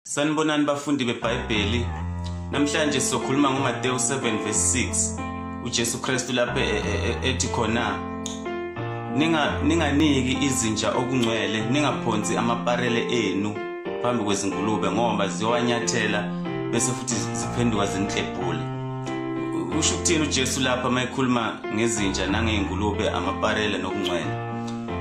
Sanibonani bafundi beBhayibheli. Namhlanje sizokhuluma ngoMateyu 7 verse 6. UJesu Kristu lapha e, e, e, ethi khona ninga ninganiki izinja okungcwele ningaphonsi amaparele enu phambi kwezingulube ngoba ziyowanyathela bese futhi ziphenduka zinhlebhule. Usho ukuthini uJesu lapha mayekhuluma ngezinja nangezingulube amaparele nokungcwele?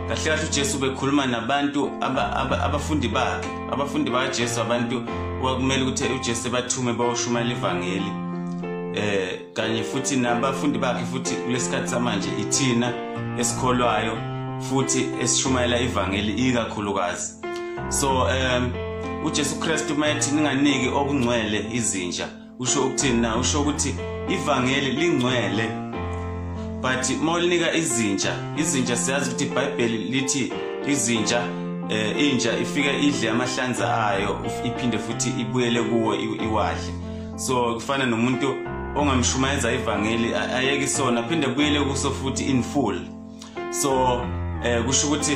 Kahle kahle uJesu bekhuluma nabantu abafundi bakhe abafundi bakajesu abantu kwakumele ukuthi ujesu ebathume bayoshumayela ivangeli eh kanye futhi nabafundi bakhe futhi kulesikhathi samanje ithina esikholwayo futhi esishumayela ivangeli ikakhulukazi so um ujesu kristu uma ethi ninganiki okungcwele izinja usho ukuthini na usho ukuthi ivangeli lingcwele but uma ulinika izinja izinja siyazi ukuthi ibhayibheli lithi izinja eh inja ifika idle amahlanza ayo iphinde futhi ibuyele kuwo iwadle so kufana nomuntu ongamshumayeza ivangeli ayeke isona phinde buyele kuso futhi in full so eh kusho ukuthi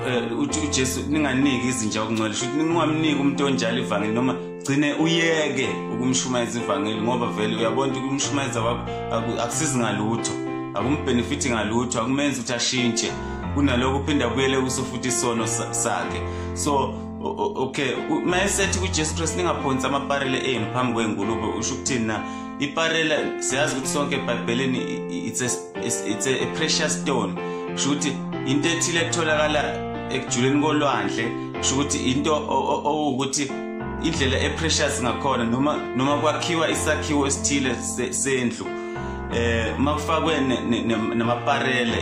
eh, uthi uJesu ninganiki izinja okungcwele sho ukuthi ningamniki umuntu onjalo ivangeli noma gcine uyeke ukumshumayeza ivangeli ngoba vele uyabona ukuthi ukumshumayeza kwakho akusizi ngalutho akumbhenefithi ngalutho akumenzi ukuthi ashintshe kunaloko uphinda kuyele kuso futhi isono sakhe so okay mayesethi kuJesu Kristu ningaphonsi amaparele enu phambi kwengulube usho ukuthini na iparela siyazi ukuthi sonke ebhayibhelini it's a, it's a, a precious stone kusho ukuthi into ethile etholakala ekujuleni kolwandle kusho ukuthi into owukuthi indlela eprecious ngakhona noma noma kwakhiwa isakhiwo esithile sendlu eh makufakwe namaparele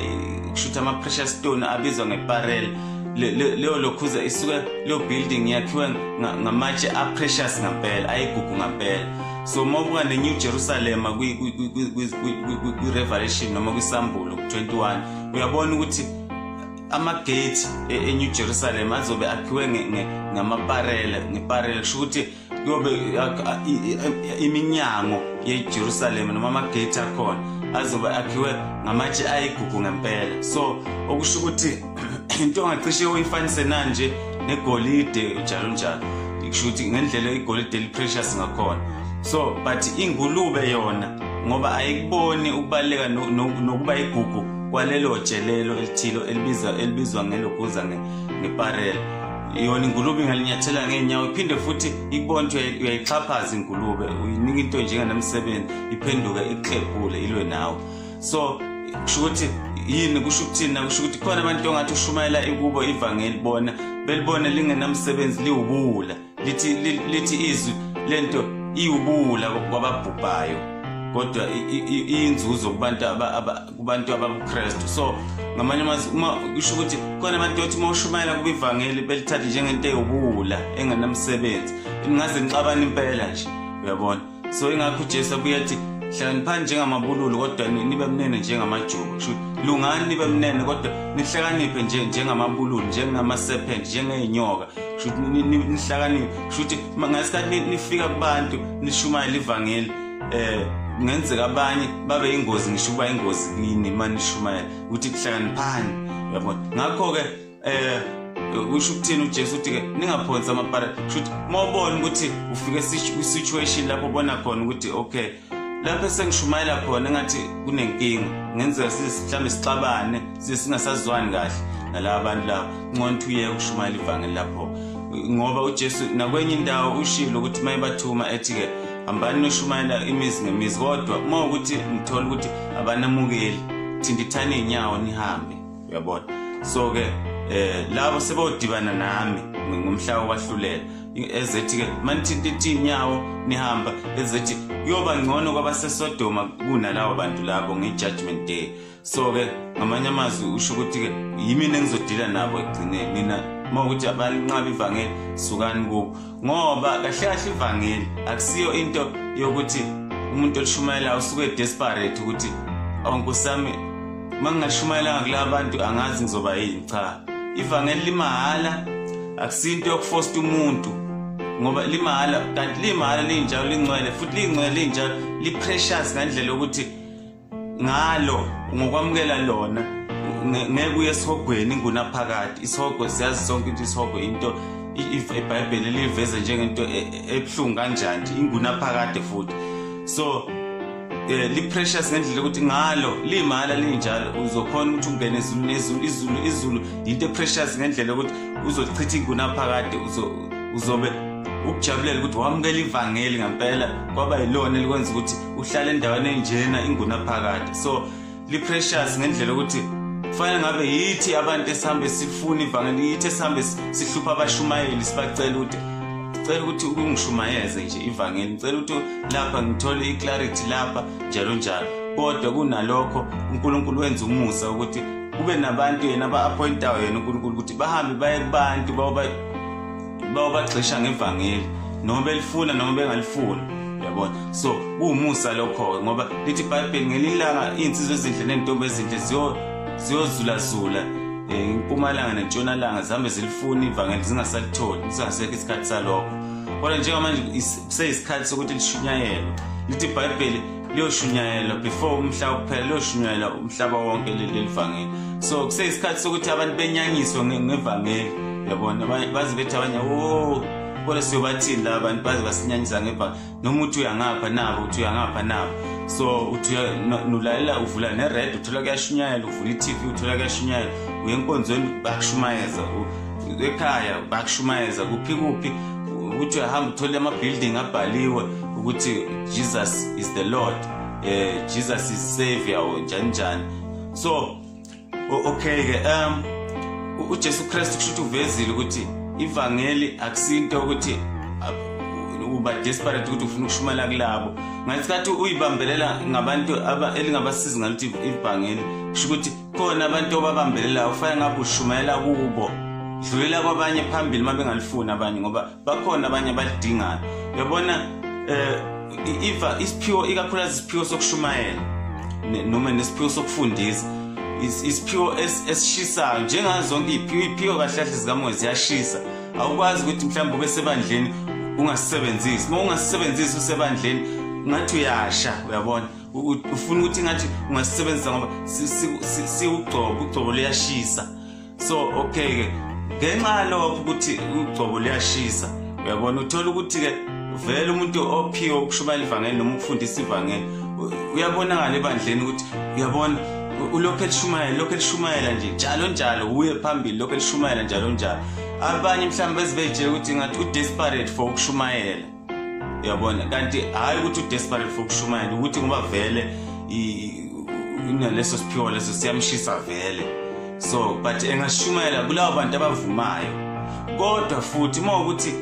kusho ukuthi ama-precious stone abizwa ngeparele leyo lokhuza isuke leyo building yakhiwe ngamatshe a-precious ngampela ayigugu ngampela so uma ubuka ne-new jerusalema kwi-revelation noma kwisambulo ku-21 uyabona ukuthi amagate e, e-new jerusalem azobe akhiwe ngamaparele ngeparele kusho ukuthi kuyobe iminyango yejerusalema noma amagate akhona azobe akhiwe ngamatshe ayigugu ngempela so okusho ukuthi into ongacishe uyifanise nanje negolide njalo njalo kusho ukuthi ngendlela igolide eliprecious ngakhona so but ingulube yona ngoba ayikuboni ukubaleka nokuba igugu kwalelo jelelo elithilo elibizwa elibizwa ngelokuza ngeparela yona ingulube ingalinyathela ngeenyawo iphinde futhi ikubona ukuthi uyayixhaphaza ingulube uyinika into njenganamsebenzi iphenduke ikuxephule ilwe nawe so kusho ukuthi yini kusho ukuthini na kusho ukuthi khona abantu ongathi ushumayela ikubo ivangeli bona belibona lingenamsebenzi liwubuwula lithi lithi izwi lento iwubuwula kwababhubhayo kodwa inzuzo kubantu kubantu ababuKristu so ngamanye amazwi uma kusho ukuthi khona abantu othi uma ushumayela kuba ivangeli belithathe njengento ewubuwula engenamsebenzi ningaze nixabane impela nje uyabona so ingakho ujesu abuye athi hlakaniphani njengamabululu kodwa nibe mnene njengamajuba sho lungani nibe mnene kodwa nihlakaniphe nje njengamabululu njengama-serpent njengey'nyoka sho nihlakaniphe sho ukuthi ngesikhathi nifika kubantu nishumayela ivangeli um kungenzeka abanye babe yingozi ngisho ukuba yingozi kini uma nishumayela ukuthi kuhlakaniphani uyabona ngakho-ke eh usho ukuthini uJesu uthi ke ningaphonsi amapara shuthi mawubona ukuthi ufike situation lapho bona khona ukuthi okay lapho sengishumayela khona ngathi kunenkinga ngenzeka sizihlambe sixabane singasazwani kahle nalaba bantu laba ngcono ukuthi uye ukushumayela ivangeli lapho ngoba uJesu nakwenye indawo ushilo ukuthi mayebathuma ethi ke hambani noshumayela imizi ngemizi kodwa uma ukuthi nithola ukuthi abanamukeli thintithani inyawo nihambe uyabona so ke eh labo sebodibana nami ngomhlaba wahlulela ezethi ke manithinta iteam yawo nihamba ezethi kuyoba ngcono kwabasesodoma kunalawo bantu labo nge-judgment day so ke ngamanye amazwi usho ukuthi ke yimina engizodila nabo ekugcineni mina uma ukuthi abanqaba ivangeli sukani kubo ngoba kahle kahle ivangeli akusiyo into yokuthi umuntu olishumayelayo usuke desperate ukuthi awu oh, nkosi yami uma ngingashumayelanga kula bantu angazi ngizoba yini cha ivangeli limahhala akusiyo into yokufosta umuntu ngoba limahhala kanti limahhala linjalo lingcwele futhi lingcwele linjalo liprecious ngandlela yokuthi ngalo ngokwamukela lona ngeke uye esihogweni ingunaphakade isihogo siyazi sonke into isihogo into ibhayibheli liyiveze njengento e, e, ebuhlungu kanjani ingunaphakade futhi so eh liprecious ngendlela ukuthi ngalo limala linjalo uzokhona ukuthi ungene ezulu nezulu izulu izulu into eprecious ngendlela ukuthi uzochitha ingunaphakade uzo uzobe ukujabulela ukuthi wamukela ivangeli ngempela kwaba yilona elikwenza ukuthi uhlala endaweni enjena ingunaphakade so li-precious ngendlela ukuthi kufanele ngabe yithi abantu esihambe sifuna ivangeli yithi esihambe sihlupha abashumayeli sibacela ukuthi cela ukuthi ungishumayeze nje ivangeli ngicela ukuthi lapha ngithole i-clarity lapha njalo njalo kodwa kunalokho unkulunkulu wenza umusa ukuthi kube nabantu yena aba-appointayo yena unkulunkulu ukuthi bahambe baye kubantu bayoba Ba ubagxisha ngevangeli noma belifuna noma bengalifuni. Yabona. So kuwumusa lokho ngoba lithi iBhayibheli ngelilanga insizwe ezinhle nentombi ezinhle ziyo ziyozula zula eh, impumalanga nentshonalanga zihambe zilifuna ivangeli zingasalitholi singasekho isikhathi salokho kodwa njengamanje kuseyisikhathi sokuthi lishunyayelwe lithi ibhayibheli liyoshunyayelwa before umhlaba kuphela liyoshunyayelwa umhlaba wonke leli livangeli so kuseyisikhathi sokuthi abantu benyangiswe ngevangeli yabona baze bethi abanye o oh, kodwa siyobathini la bantu baze basinyanyisa ngevangeli noma uthi uyangapha nabo uthi uyangapha nabo so uthi nulalela uvula nered uthola kuyashunyayela uvula i-tv uthola kuyashunyayela uye enkonzweni bakushumayeza ekhaya bakushumayeza kuphi kuphi uthi uyahamba uthole ama-building abhaliwe ukuthi Jesus is the Lord eh Jesus is savior oh, njani njani so okay ke um uJesu Christ kusho ukuthi uvezile ukuthi ivangeli akusinto ukuthi uba desperate ukuthi ufuna ukushumayela kulabo ngesikhathi uyibambelela ngabantu elingabasizi ngalithi ibhangeli kusho ukuthi khona abantu obabambelelayo kufanele ngabe ushumayela kubo dlulela kwabanye phambili uma bengalifuni abanye ngoba bakhona abanye abalidingayo uyabona um iva isiphiwo ikakhulukazi isiphiwo sokushumayela noma nesiphiwo sokufundisa isiphiwo esishisayo njengazo zonke iy'phiwo kahle kahle zikamoya ziyashisa awukwazi ukuthi mhlawumbe ube sebandleni ungasisebenzisi uma ungasisebenzisi usebandleni ngathi uyasha uyabona ufuna ukuthi ngathi ungasisebenzisa ngoba siwugcobo ugcobo luyashisa so okay ke ngenxa yalokho ukuthi ugcobo liyashisa uyabona uthola ukuthi ke vele umuntu ophiwe ukushumayela ivangeli noma ukufundisa ivangeli uyabonakala ebandleni ukuthi uyabona ulokhu elishumayela lokhu elishumayela nje njalo njalo uye phambili lokhu elishumayela njalo njalo abanye mhlawumbe bezibejela ukuthi ngathi u-desperate for ukushumayela uyabona kanti hhayi ukuthi udesperate for ukushumayela ukuthi ngoba vele inaleso siphiwo leso siyamshisa vele so but engashumayela kulabo bantu abavumayo kodwa futhi uma ukuthi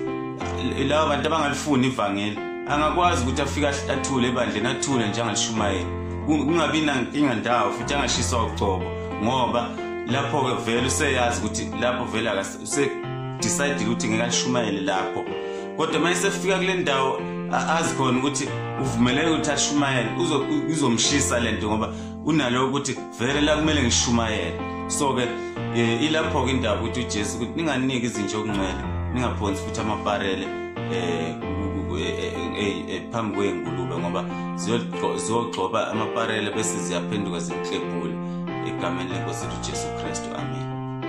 labo bantu abangalifuni ivangeli angakwazi ukuthi afike athule ebandleni athule nje angalishumayeli kungabi nankinga ndawo futhi angashiswa ucobo ngoba lapho-ke vele useyazi ukuthi lapho vele usedecide ukuthi ngeke ashumayele lapho kodwa uma esefika kule ndawo azi khona ukuthi uvumeleke ukuthi ashumayele uzomshisa le nto ngoba unalo ukuthi vele la kumele ngishumayele so-ke um ilapho-ke indaba ukuthi ujesu ukuthi ninganiki izinja okungcwele ningaphonsi futhi amaparele um phambi kwey'ngulube ngoba ziyogxoba amaparele bese ziyaphenduka zimklebhule egameni lenkosi ujesu kristu amen